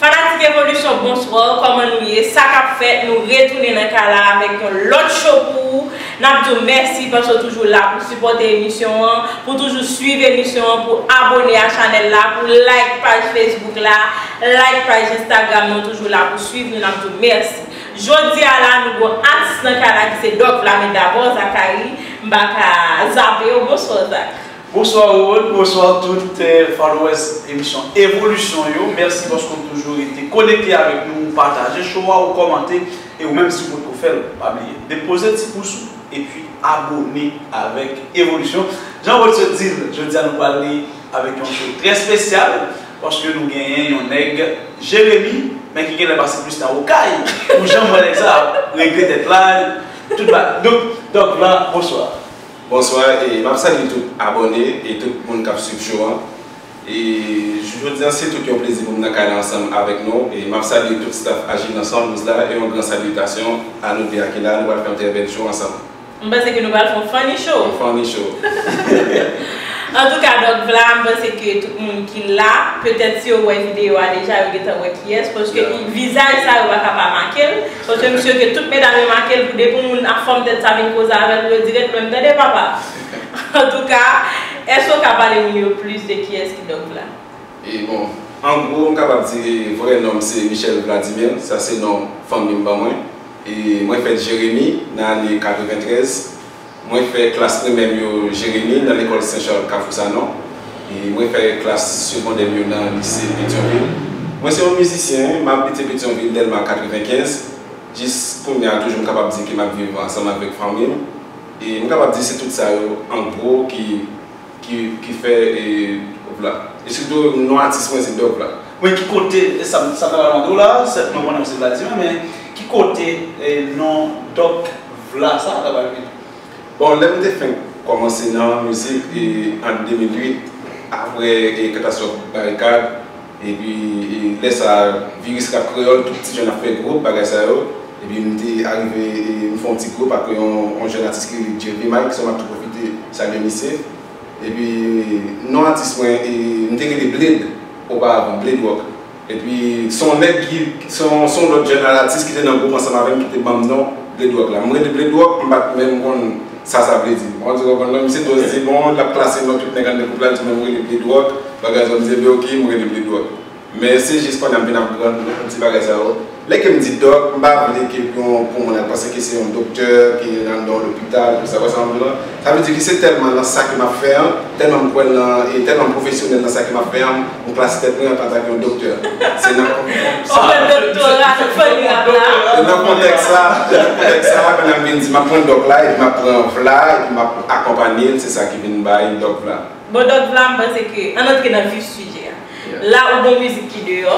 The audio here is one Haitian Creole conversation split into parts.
Fanatik evolisyon bonsoir kòman nou ye sa kap fèt nou retounen nan kay la avèk yon lòt show pou ou nap diw mèsi paske ou toujou la pou sipòte emisyon an pou toujou swiv emisyon an pou abone a chanèl la pou like paj facebook la like paj instagram nou toujou la pou swiv nou nap diw mèsi jodia la nou gon atis nan kay la ki se Doc la men dabò Zacharie m paka zapew bonsoir Zach. Bonsoir Roro, bonsoir tout followers emisyon evolisyon yo, merci paske ou toujou rete konekte avèk nou, ou pataje show a, ou kòmante, e ou menm si ou potko fèl, pa bliye depoze ti pous ou epi abone avèk evolisyon, jan Roro t sot dil jodi a nou pral li avèk yon show trè spesyal, paske nou genyen yon nèg Jeremi, men ki genlè pase plis tan okay, pou janm wè nèg sa ap regle tèt la, tout bagay, donk Doc blan bonsoir. Bonswa e map salye tout abòne e tout moun kap swiv show an e jou jodi an se tout yon plezi pou m nan kay la ansanm avèk nou e map salye tout staff achiv nan 112 la e yon gran salyitasyon a nou 2 a ki la nou pral fè yon trè bèl show ansanm. M panse ke nou pral fè yon funny show. Yon funny show. Antouka Doc Vla m panse ke tout moun ki la petèt si yo wè video a deja yo gentan wè kiyès paske vizaj sa yo paka pa make l. Sonje misye ke tout medam yo makel pou depi yon moun ap fòm tèt sa vin koze avèl pou yo dirèt menm tande papa antouka èske ou ka pale moun yo plis de kiyès ki Doc Vlad? E bon an gwo m kapab di vrè nonm se Michel Vladimir sa se non fanmim ban mwen e mwen fèt Jeremi nan ane 93. Mwen fè klas primè m yo Jeremi nan lekòl Sen Chal Kafou Sanon e mwen fè klas segondè m yo nan lise Petyonvil. Mwen se yon mizisyen, m abite Petyonvil, Dèlma 95. Jis kounye a toujou m kapab di ke m ap viv ansanm avèk fanmi m e m kapab di se tout sa yo an gwo ki ki fè e op la e sitou non atis mwen se dòp la. Mwen ki kote e sa m ta pral mande w la a sèt mwen konnen ou se vladimè men ki kote e non dòk vla sa a ta pral vini. Bon lè m te fenk kòmanse nan mizik e an 2008 aprè e katastwòf barikad. Epi lè sa a viris rap kreyòl tout ti jèn ap fè gwo bagay sa yo epi m te arive m fè yon ti gwoup ak yon jèn atis ki rele JP Mike so m ap tou pwofite salye misye epi non atis mwen m te rele Bled oparavan Bled Rock epi se yon nèg ki se yon lòt jèn atis ki te nan gwoup ansanm avè m ki te ban m non Bled Rock la m rele Bled Rock m pa t menm konn Sa sa vle di? Bon, di konprann non, misye dwòz di bon, lap klase non tout nèg anndan gwoup la, di non m rele pye dwòg, bagay zòn di ebyen ok, m rele pye dwòg. Men se jis konnye a m vin aprann ti bagay sa yo. Lè ke m di dòk, m pa vle ke pou yon pou moun al panse ke se yon doktè ki anndan yon lopital pou sa, wè sa m vle di lan? Sa vle di ke se tèlman nan sa ke m ap fè an, tèlman m kwè nan, e tèlman m pwofesyonèl nan sa ke m ap fè an, m. Bon klas tèt mwen pa ta gen yon doktè. Se nan kontèks sa a ke nan vin di map pran dòk la epi map pran vla epi map akonpanye l se sa ki vin bay dòk vla. Bon dòk vla m panse ke ann antre nan vif sijè a. La ou gon mizik ki deyò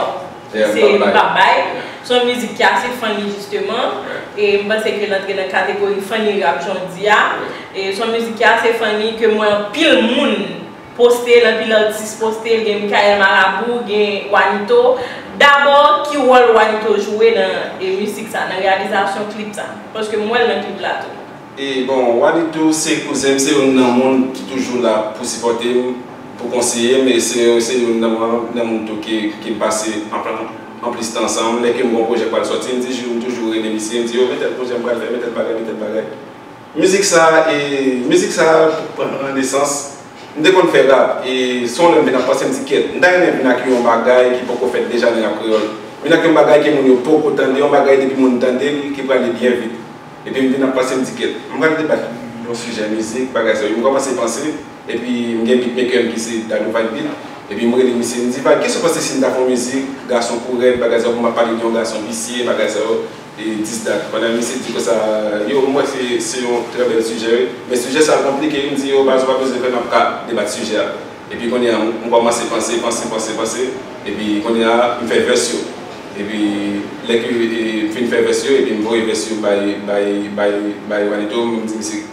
se m pap bay. Se yon mizik ki ase funny jisteman e m panse ke l antre nan kategori funny rap jan w di a. Se yon mizik ki ase funny ke m wè anpil moun. Poste l anpil atis poste l gen Mickaël Marabout gen Wanito dabò ki wòl Wanito jwe nan misik sa nan reyalizasyon klip sa paske m wè l nan klip la tou. E bon Wanito se kouzen m se youn nan moun ki toujou la pou sipòte m pou konseye m e se youn nan moun tou ki m pase anplis tan ansanm m lè ke m gen yon pwojè k pral sòti m di m toujou rele misye m di yo metèl pwojè m pral fè metèl bagay metèl bagay. Mizik sa e mizik sa pran nan nesans m te konn fè rap e son lèm vin ap panse m di kèt m ta renmen vin ak yon bagay ki poko fèt deja nan rap kreyòl vin ak yon bagay ke moun yo poko tande yon bagay depi moun tande l ki prale byen vit epi m vin ap panse m di kèt m pral debat yon sijè mizik bagay sa yo m kòmanse panse epi m gen beatmaker m ki se Dadou Vibe Beat epi m rele misye m di Vibe kès ou panse si m ta fè yon mizik gason kou rèd bagay sa yo pou m ap pale de yon gason visye bagay sa yo. E 10 dat Madam Missy di konsa yo m wè se yon trè bèl sijè wi men sijè sa konplike wi m di yo baz ou pa bezwen fè map ka debat sijè a epi kounye a m kòmanse panse panse panse panse epi kounye a m fè vès yo epi lè ke m fin fè vès yo epi m voye vès yo bay bay bay bay Wanito m di misye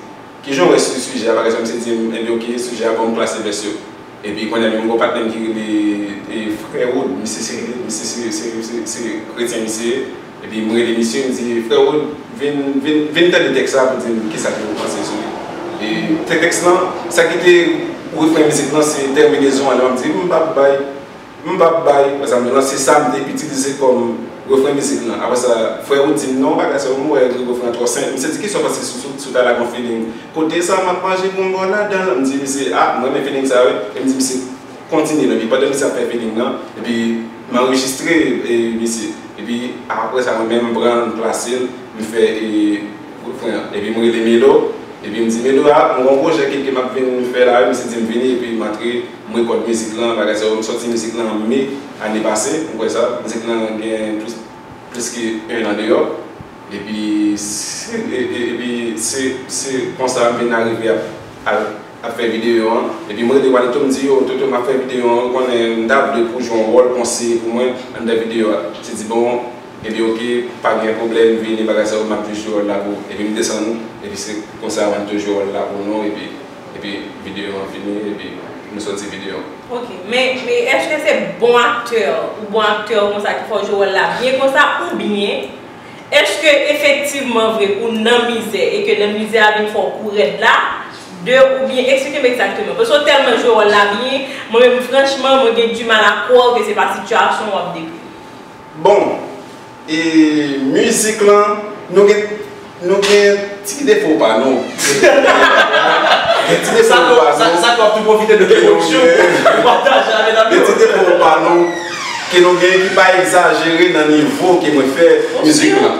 kijan w wè sijè a bagay sa misye di m ebyen ok sijè a bon m klase vès yo. Epi kounye a gen yon gwo patnèm ki rele Freud, misye se misye se se se kretyen misye ye, epi m rele misye m di Freud vin vin vin tande tèks la pou di m kisa ke ou panse sou li. E tè tèks lan sa ki te refren mizik lan se tèminezon an, li map di m pap bay. M p ap bay Frè Samson an, se sa m te itilize kòm refren mizik lan. Aprè sa, frè Wood di m, non, bagay sa yo, m wè li refren an twò senp. Misye di, ki sa w panse sou sou sou ta la gon feeling? Kote sa, m ap manje pou m ba w ladan l. M di misye, a, m renmen feeling sa a wi. Epi m di misye, kontinye l. Epi pandan misye ap fè feeling lan, epi m anrejistre e misye. Epi aprè sa, mwen menm m pran l, m plase l, m fè e refren an. Epi m rele Melo, epi m di, Melo, a, m gon pwojè ke ke m ap vin fè la wi. Misye di m, vini, epi m antre. M rekòt mizik lan, bagay sa yo. M sòti mizik lan an me ane pase, ou kwè sa. Mizik lan gen plis plis ke 1 an deyò. Epi si epi se se konsa m vin arive ap al ap fè videyo an. Epi m rele Walito m di yo, Toto m ap fè videyo an, ou konnen m ta vle pou w jwe yon wòl konseye pou mwen anndan videyo a. Ti di bon, epi oke, pa gen pwoblèm, vini bagay sa yo, m ap jwe jwe wòl la pou ou. Epi m desann, epi se konsa Walito jwe wòl la pou nou epi. Epi video an fini epi nou soti video an. Ok men eske se bon aktè ou bon aktè ou konsa ki fè w jwe wòl la byen konsa oubyen eske efektivman vre ou nan mizè e ke nan mizè a vin fè w kou rèd la de oubyen eksplike m egzakteman paske w tèlman jwe wòl la byen mwen menm franchman mwen gen dimal a kwè w ke se pa sitiyasyon w ap dekri. Bon! E music lan nou gen nou gen ti defo pa nou gen ti defo pa nou sa sa k wap tou pwofite de production pou pataje avè nan gen ti defo pa nou ke nou gen ki pa egzajere nan nivo ke mwen fè music lan.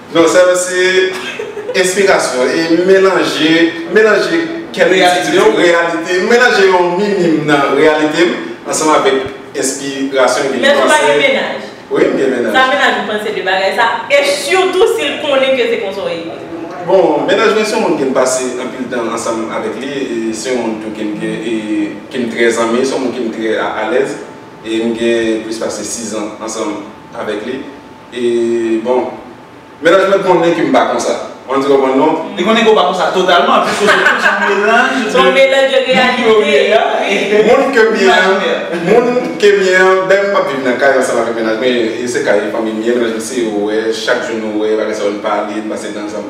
Non sa yo se enspirasyon e melanje melanje kèk ti reyalite melanje yon minim nan reyalite m ansanm avèk enspirasyon epi panse. Mèt ou pa gen mennaj? Wi m gen mennaj. Sa mennaj ou panse de bagay sa e sitou si l konnen ke se konsa w ye? Bon mennaj mwen se yon moun ke m pase anpil tan ansanm avèk li e se yon moun tou ke m gen e ke m trè zanmi se yon moun ke m trè alèz e m gen plis pase 6 zan ansanm avèk li. E bon. Mennaj mwen konnen ke m pa konsa. Mwen di konprann non. Li konnen ke w pa konsa totalman anplis kote tou son melanj de. Son melanj de reyalite. Moun ke m ye a. Moun ke m ye a. Menm m ap viv nan kay ansanm avèk mennaj mwen. E se kay fanmi m ye. Mennaj mwen se yo ou wè. Chak jou nou wè. Bagay sa yo n pale. N pase tan ansanm.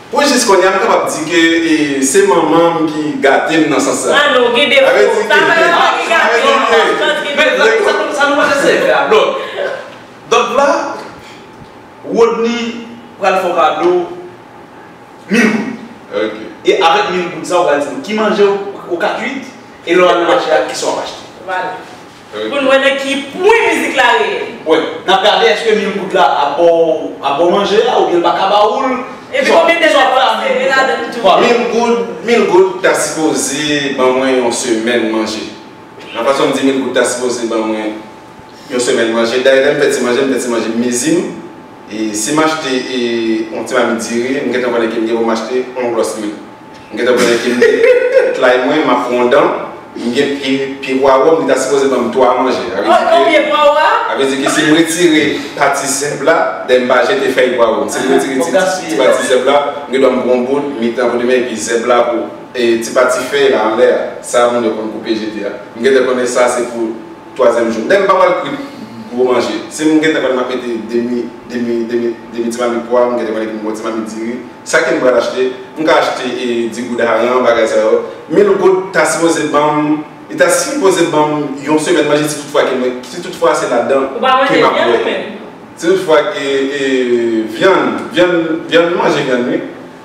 Pou jis kounye a m kapab di ke se manman m ki gate m nan sans sa. Ah non, ou gen defo. Sa vle di ke. Sa pa ki gate w, sa vle di ke. Men la sa nou pral eseye fè a. Donk, donk la Rodney pral fè w kado mil goud. Ok. E avèk mil goud sa ou pral di nou ki manje ou ka kuit e lè w al nan mache a kisa w ap achte. Vwala. Poun wè nan ki pwen mizik la reyèl. Wè. Nap gade eske mil goud la ap baw ap baw manje a oubyen l paka ba oul. Epi konbyen de jou aprè a mil goud la. Voilà. Mil goud mil goud ta sipoze ban mwen yon semèn manje. Nan fason m di mil goud ta sipoze ban mwen yon semèn manje. Dayè lè m fè ti manje m fè ti manje m mezi m. E si m achte yon ti mamit diri m gentan konnen ke m gen pou m achte yon glòs lwil. M gentan pran infimite et lay mwen map pran yon dan m gen pye pwawom li ta sipoze banm 3 manje a vle di ke sim retire pati zèb la dè m pa jete fèy pwawom sim retire ti pati zèb la m gen dwa m pran yon boul m mete nan vodou men epi zèb la pou ti pati fèy la anlè a sa moun yo konn koupe jete a m gentan konnen sa se pou Twazyèm jou. Menm pa pral kwit gwo manje. Si m gentan konn m ap mete demi demi demi demi ti mamit pwa, m gentan konn epi m pran yon ti mamit diri. Sa ke m pral achte? M ka achte e di goud aran, bagay sa yo. Mil goud ta sipoze ban m, li ta sipoze ban m yon semèn manje si tout fwa ke mwen, si tout fwa se ladan Ou pa manje vyann ou menm? Si tout fwa ke e vyann, vyann, vyann, m manje vyann wi.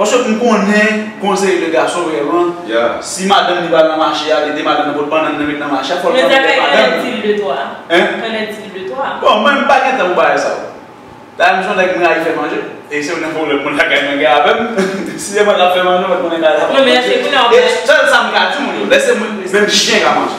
Paske m konnen gon seri de gason vrèman si madanm li pral nan mache a li di madanm nan pot bannann nan met nan mache a fòl pran pòt madanm nan. Men zafè kòlè dil de twa. Kòlè dil de twa. Bon mwen m pa gen tan pou bagay sa yo. Dayè m son nèg m rayi fè manje e se yon nan pwoblèm moun lakay mwen gen avèm si se mwen kap fè manje mwen t konnen kay la pap manje e sèl sa m ka di moun yo lè se mwen menm chyen ka manje.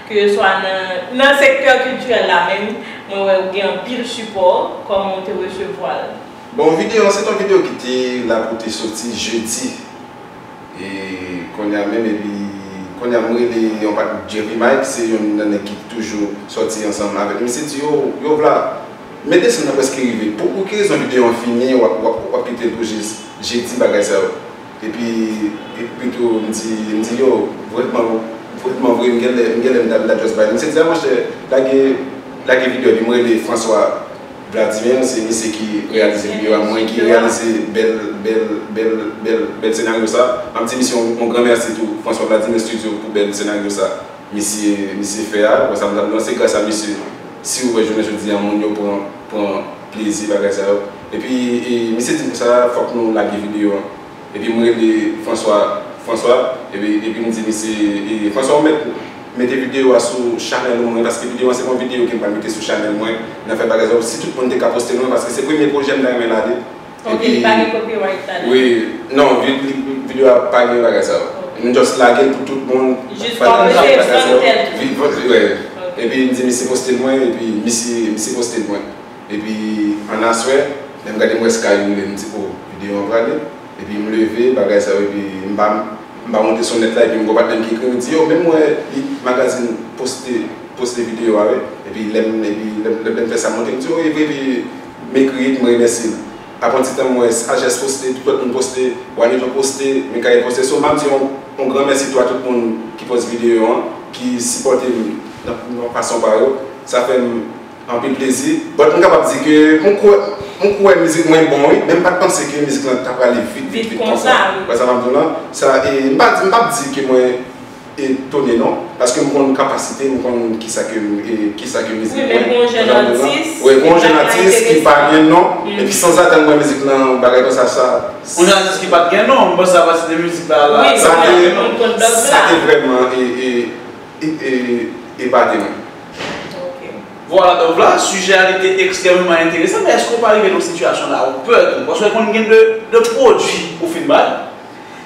Keswa nan nan sektè kiltirèl la menm, mwen wè ou gen anpil sipò, kòman ou te resevwa l? Bon video an se ton video ki te la pou te soti jeudi e konnya menm epi konnya m rele yon pat Jerry Mike se yon nan nèg ki toujou soti ansanm avèk misye di yo yo vla men desann nan prèske rive pou ki rezon video an fini wap wap kite l pou jis jeudi bagay sa yo. Epi epitou m di m di yo vrèman vrèman vre m genlè m genlè m ta m ta just bay misye di a monchè lage lage video epi m rele François Vladimir m se misye ki reyalize video a mwen ki reyalize bèl bèl bèl bèl bèl senaryo sa map di misye yon gran mèsi tou François Vladimir studio pou bèl senaryo sa misye misye fè a wè sa m ta m di lan se gras a misye siw wè jounen jodi a moun yo pran pran plezi bagay sa yo. Epi misye dim konsa fòk nou lage video an epi m rele François François epi m di misye François ou mèt mete video a sou chanèl ou mwen paske video an se pa yon video kem pral mete sou chanèl mwen nan fè bagay sa yo si tout moun te ka postel mwen paske se premye pwojè m ta renmen lage ok li pa gen copyright ladan wi non video a pa gen bagay sa yo m just lagel pou tout moun jis pataje bagay sa yo epi m di misye postel mwen epi misye postel mwen. Epi an aswè lèm gade m wè sky roule m di oh video an prale epi m leve bagay sa yo epi m pa m pa monte son nèt la epi m gen yon patnè m ki ekrim m di yo menm wè li magazine poste poste video a wi epi lèm epi lèm fè sa m monte m di oh evre epi m ekri epi m remèsye l aprè yon ti tan m wè sajès poste tout lòt moun poste wanivon poste mikayèl poste so m ap di yon gran mèsi tou a tout moun ki post video an ki sipòte m nan fason pa yo sa fè m Anpil plezi but m kapab di ke m kwè mizik mwen bon wi men m pat panse ke mizik lan ta prale vit vit vit konsa wi wè sa map diw lan sa e m pap di ke mwen etone non paske m konn kapasite m konn kisa ke kisa ke mizik mwen pou yon jèn atis wi pou yon jèn atis ki pa gen non epi sanzatann m wè mizik lan yon bagay konsa sa pou yon atis ki pat gen non m panse sa pa site mizik la la wi sa te vrèman e e e epate mwen. Ok. Vwala donk la, sijè a li te ekstrèmeman enteresan, men èske ou pa rive nan yon sitiyasyon la ou pè tou? Paske konn gen de, de pwodui ou fin bay,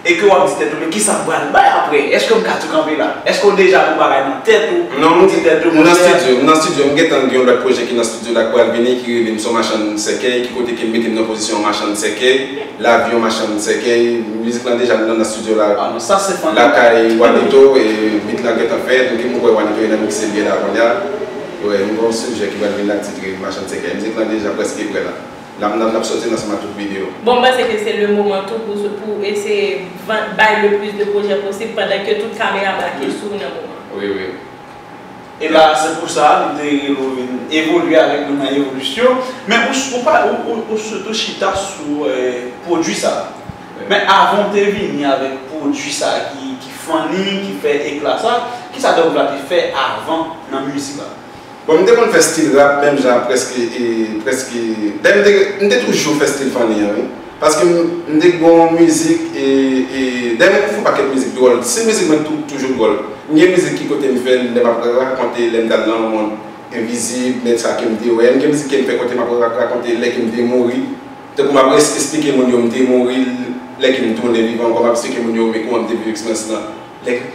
e ke w'ap di tèt ou men kisa m pral bay aprè? Èske m ka tou kanpe la? Èske ou deja gon bagay nan tèt ou, ou di tèt ou, m nan stidyo, m nan stidyo, m gentan gen yon lòt pwojè ki nan stidyo la k pral vini ki rele m s on machann sèkèy, ki kote ke m mete m nan pozisyon yon machann sèkèy. Lavi yon machann sèkèy, mizik lan deja nan studio la lakay Wanito e beat lan gentan fèt epi mwen kwè Wanito gentan mixe byè la kounya e nou gen yon sijè ki pral vin la ki titre machann sèkèy mizik lan deja prèske prè la lap nan lap soti nan seman tout video. Bon m panse ke se le moman tou pou pou eseye vann bay le plis de projè posib pandan ke tout kamera brake sou ou nan moman. Wi wi. E la, se pou sa li te rele w vin evolye avèk nou nan evolisyon. Men ou pa, ou sitou chita sou pwodui sa. Men avan w te vini avèk pwodui sa ki funny, ki fè ekla sa, ki sa Dove la te fè avan nan mizik la? Bon, m te konn fè stil rap menm jan prèske, prèske, dayè m te, m te toujou fè stil funny an wi. Paske m m te gen yon mizik e e dayè mwen konn fè yon pakèt mizik dwòl stil mizik mwen tou toujou dwòl m gen mizik ki kote m fè l lè m ap rakonte lè m t al nan mond envizib nèg sa ke m te wè m gen mizik ke m fè kote m ap rakonte lè ke m te mouri tankou m ap res esplike moun yo m te mouri lè ke m tounen vivan ankò m ap esplike moun yo men kouman m te viv eksperyans lan lè ke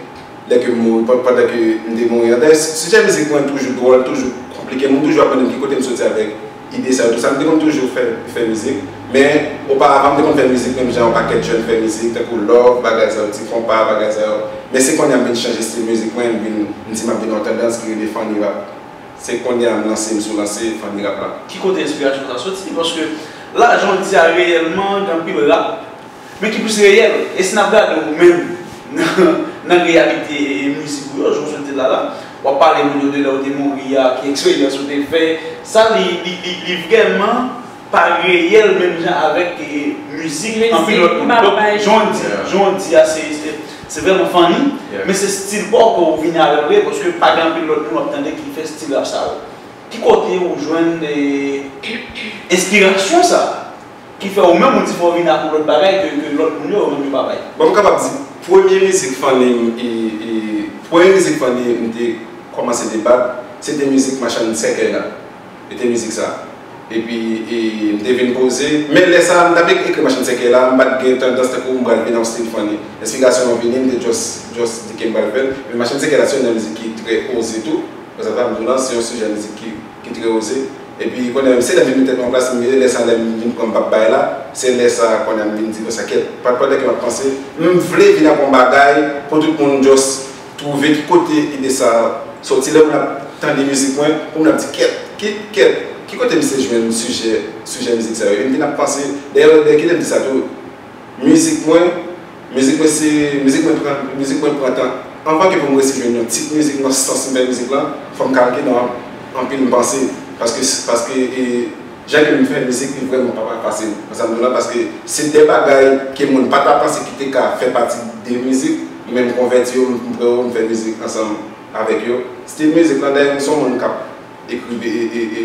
lè ke m mouri pa pandan ke m te mouri an dayè sijè mizik mwen toujou dwòl toujou konplike moun toujou ap mande m ki kote m soti avèk. Ide sa yo tou sa. M te konn toujou fè fè mizik. Men, oparavan m te konn fè mizik menm jan yon pakèt jèn fè mizik, tankou love, bagay sa yo, ti konpa, bagay sa yo. Men se konnya m vin chanje stil mizik mwen, m vin, m di m ap vin yon tandans ki rele funny rap. Se konnya m lanse m sou lanse funny rap la. Ki kote enspirasyon sa soti? Paske la jodia reyèlman gen anpil rap. Men ki plis reyèl, e si n ap gade ou menm nan reyalite mizik ou yo, jan w sot di la la, w ap pale moun yo de lè ou te mouri a, ki eksperyans ou te fè, sa li vrèman pa reyèl menm jan avèk mizik anpil lòt moun. Donk, jan w di a se vrèman funny, men se stil pa w ke ou vini avè l vre, paske pa gen anpil lòt moun w ap tande ki fè stil rap sa yo. Ki kote ou jwenn enspirasyon sa? Ki fè ou menm ou di fò vin ak yon lòt bagay ke lòt moun yo menm yo pa bay. Bon m kapab di premye mizik funny m premye mizik funny m te kòmanse te bat se te mizik machann sèkèy la e te mizik sa epi m te vin poze men lè sa m tap ekri machann sèkèy la m pat gen tandans tankou m pral vin yon stil funny enspirasyon an vini m te just just di ke m pral fè l men machann sèkèy la se yon nan mizik ki trè oze tou konsa sa m di w lan se yon sijè mizik ki trè oze. Epi kounye a se lè m vin mete tèt mwen plas m e lè sa lè m vin pran m pap bay la, se lè sa kounye a m vin di konsa kèt pa pandan ke m ap panse m vle vin ak yon bagay pou tout moun just twouve ki kote ide sa soti lè moun ap tande mizik mwen pou moun ap di kèt ki kèt ki kote misye jwenn sijè sijè mizik sa yo e m vin ap panse dèyè dèyè ki lè m di sa tou. Mizik mwen, mizik mwen se mizik mwen pran, mizik mwen pran tan anvan ke pou m resi jwenn yon tit mizik nan sans m fè mizik lan, fò m kalke nan anpil m panse paske paske e jan ke m fè mizik li vrèman pa pa fasil nan sa m di w la paske se de bagay ke moun pa ta panse ki te ka fè pati de mizik men m konvèti yo m pran yo m fè mizik ansanm avèk yo stil mizik lan dayè m son moun k ap ekri e e e.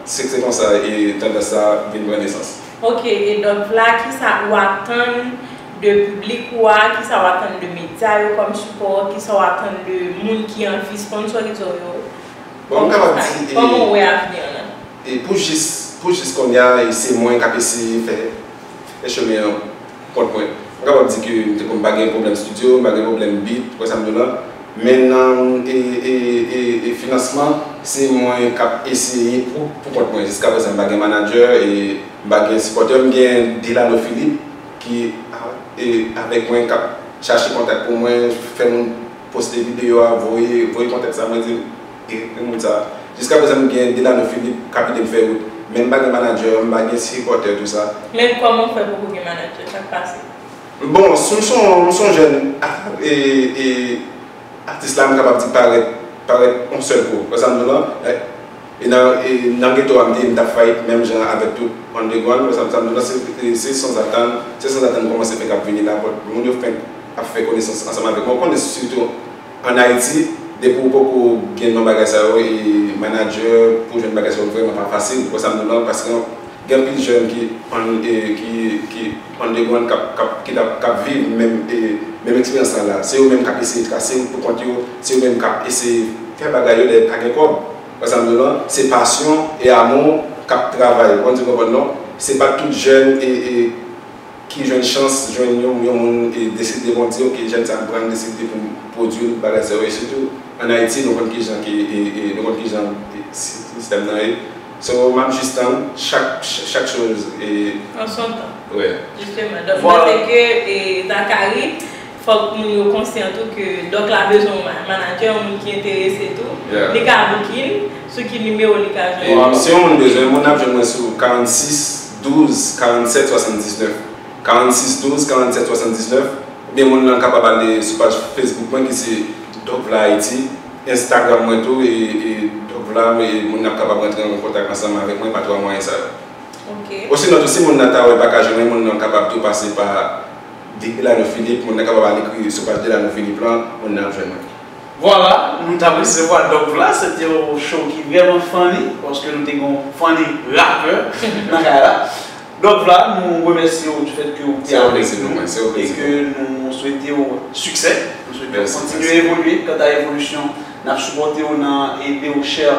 Se te konsa e tandans sa a vin pran nesans. Ok e donk la kisa ou atann de piblik ou a, kisa ou atann de medya yo kòm sipò, kisa ou atann de moun ki anvi sponsorize w yo? Bon m kapab di e. Kòman ou wè avni an nan? E pou jis pou jis konnya e se mwen k ap eseye fè fè chemen an. kont mwen. M kapab di ke m te konn pa gen pwoblèm studio, m pa gen pwoblèm beat, ou wè sa m di w la. Men nan e finansman, se mwen k ap eseye pou kont mwen. Jiska prezan m pa gen manadjè e m pa gen sipòtè. M gen Delano Philippe ki avèk mwen, k ap chache kontak pou mwen, fè moun poste videyo a, voye kontak sa mwen di l. Gen moun sa. Jiska prezan nou gen Delano Philippe kap edem fè wout. Men m pa gen manager, m pa gen sipòtè tou sa. Men kòman w fè poko gen manager? Sak pase? Bon, si m son m son jèn e atis la m kapab di parèt parèt on sèl kou. Wè sa m di w lan? E nan e nan geto a m te ye m tap fayit menm jan avèk tout underground. Wè sa m sa m di w lan? Se se sanzatann se sanzatann kòmanse fenk ap vini la. Moun yo fenk ap fè konesans ansanm avèk mwen. Ou konnen sitou. An Ayiti, depi w poko gen non bagay sa yo e manadjè pou w jwenn bagay sa yo vrèman pa fasil. Wè sa m di w la, paske gen anpil jèn ki underground k ap viv menm eksperyans lan la. Se yo menm k ap eseye trase wout pou kont yo, se yo menm k ap eseye fè bagay yo dèyè pa gen kòb. Wè sa m di w la, se pasyon e amou k ap travay. Ou konprann sa m di w la non? Se pa tout jèn. ki jwenn chans jwenn yon yon moun e deside bon di ok jèn sa m prann deside pou m pwodui l bagay sa yo e sitou an ayiti nou konn kijan ke e e nou konn kijan sistèm nan ye so m ap jis tann chak chak choz e An son tan. Wè. Jisteman donk mwen se ke e Zacharie. Fòk moun yo konsyan tou ke Dòk la bezwen yon manadjè, yon moun ki enterese tou. Li ka booking, sou ki nimewo li ka jwenn ou? Si yon moun bezwen moun, l ap jwenn mwen sou 46 12 47 79. 46 12 47 79 oubyen moun lan kapab ale sou paj Facebook mwen ki se Dòkvla Ayiti, Instagram mwen tou e Dòkvla e moun nan ap kapab rantre an kontak ansanm avèk mwen pa 3 mwayen sa yo. Osinon tou si moun nan ta wè l pa ka jwenn mwen, moun nan kapab tou pase pa. Depi la nou Philippe moun nan kapab al ekri yo sou paj Delano Philippe lan moun nan ap jwenn mwen. Vwala, nou tap resevwa Dòk la, se te yon show ki vrèman funny, paske nou te gen yon funny rapè nan kay la. Dòk la, nou remèsye w du fèt ke ou te avèk nou e ke nou swete w siksè, nou swete w kontinye evolye, kanta evolisyon nap sipòte w nan ede w chè.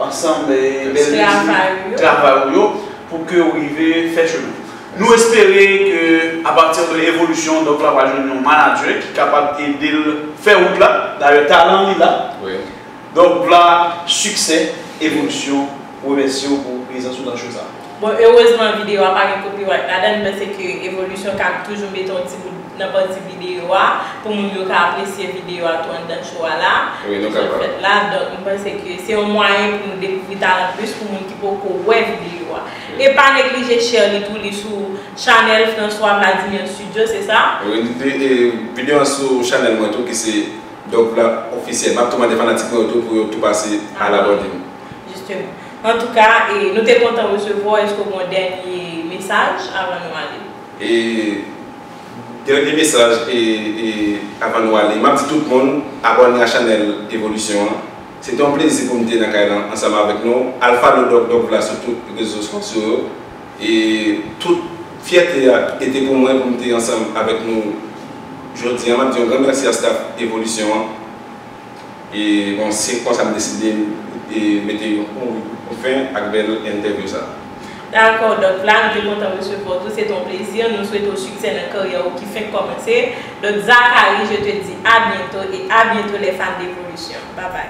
Ansanm bel mizik travay ou yo pou ke ou rive fè chemen. Nou espere ke apati de evolisyon Doc la pral jwenn yon manager ki kapab ede l fè wout la. Dayè talan li la. Doc Vla siksè evolisyon remèsye w pou prezans ou nan show sa. Bon heureusement vidéo a pa gen copyright ladann men se ke Evolution kab toujou mete yon ti bout nan pati vidéo a pou moun yo ka apresye vidéo a tou anndan show a la Wi nou kapab. fèt la donk m panse ke se yon mwayen pou nou dekouvri talan plis pou moun ki poko wè vidéo a e pa neglije share li tou li sou Channel François Vladimir studio se sa? Wi li e vidéo an sou Channel mwen tou ki se Dovla Officiel map tou mande fanatik mwen yo tou pou yo tou pase al abòne. Justement. En tout cas, e nou te kontan resevwa w. Eske w gen yon dènye mesaj avan nou ale? E dènye mesaj e e avan nou ale, m ap di tout moun abòne a chanèl Evolisyon an. Se te yon plezi pou m te nan kay la ansanm avèk nou. Al follow Doc Doc Vla sou tout rezo sosyo yo. E tout fyète a e te pou mwen pou m te ansanm avèk nou jodi an. M ap di yon gran mèsi a staff Evolisyon an. E bon se konsa m deside mete yon fen ak bèl entèvyou sa. Dakò Dòk Vlad, m te kontan resevwa w tou, se te yon plezi, nou swete w siksè nan karyè w ki fenk kòmanse. Dòk Zacharie, je te dis à bientôt et à bientôt les fans d'evolution. Babay.